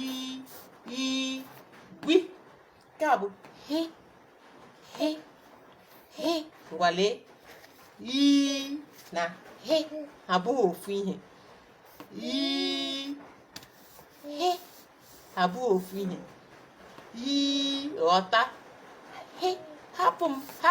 i i wi nke a bụ he he he ngwa lee i na he abụghị ofu ihe i he abụghị ofu ihe ị ghọta he hapụ m ha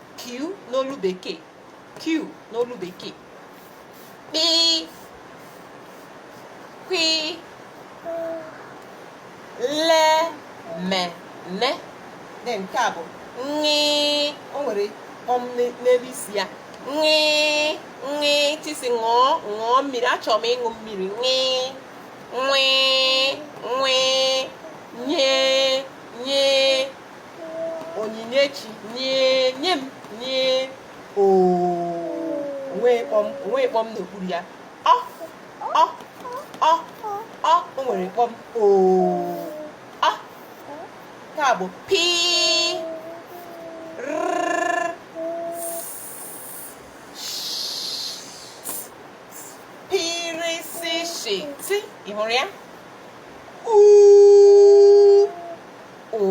q n'olu bekee q n'olu bekee kpi kwi le me ne then nke a bụ ṅị o nwere kpọm n'e- n'elu isi ya ṅị ṅị tisi ṅụọ ṅụọ mmiri achọrọ m ịṅụ mmiri ṅị nwị nwị nye nye onyinyechi nye nye m nye o nweghị kpọm o nweghị kpọm n'okpuru ya ọ ọ ọ ọ o nwere kpọm o ọ nke a bụ pi rrrr, pi ri si shi ti ị hụrụ ya uu ụụ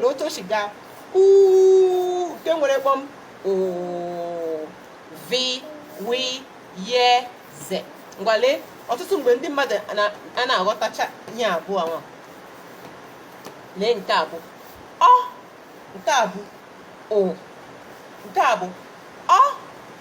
lee otu o si gaa uu nke nwere kpọm ụụ vi wi ye ze ngwa lee ọtụtụ mgbe ndị mmadụ anaghị aghọtacha ihe abụọ ahụ lee nke a bụ ọ nke a bụ o nke a bụ ọ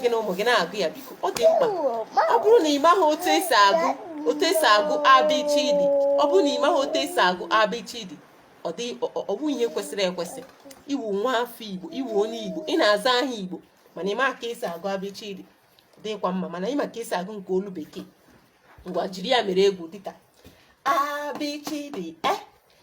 gị na ụmụ gị na-agụ ya biko ọ dị mkpa ọ bụrụ na ị maghị otu esi agụ abịchidi ọ bụ ihe kwesịrị ekwesị ị wụ nwa afọ igbo ị wụ onye igbo ị na-aza aha igbo mana ị ma ka esi agụ abịchidi ọ dịkwa mma mana ị ma ka esi agụ nke olu bekee ngwa jiri ya mere egwu dịka abịchidi e eh?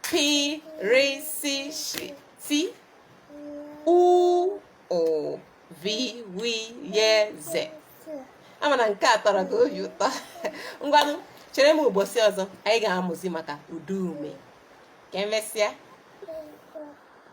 Pi, ri, si, shi, ti. U, ụ, vi, wi, ye, ze. Ama m na nke a tọrọ gị obi ụtọ. Ngwanụ, chere m ụbọchị ọzọ anyị ga-amụzi maka ụdaume. Ka emesịa.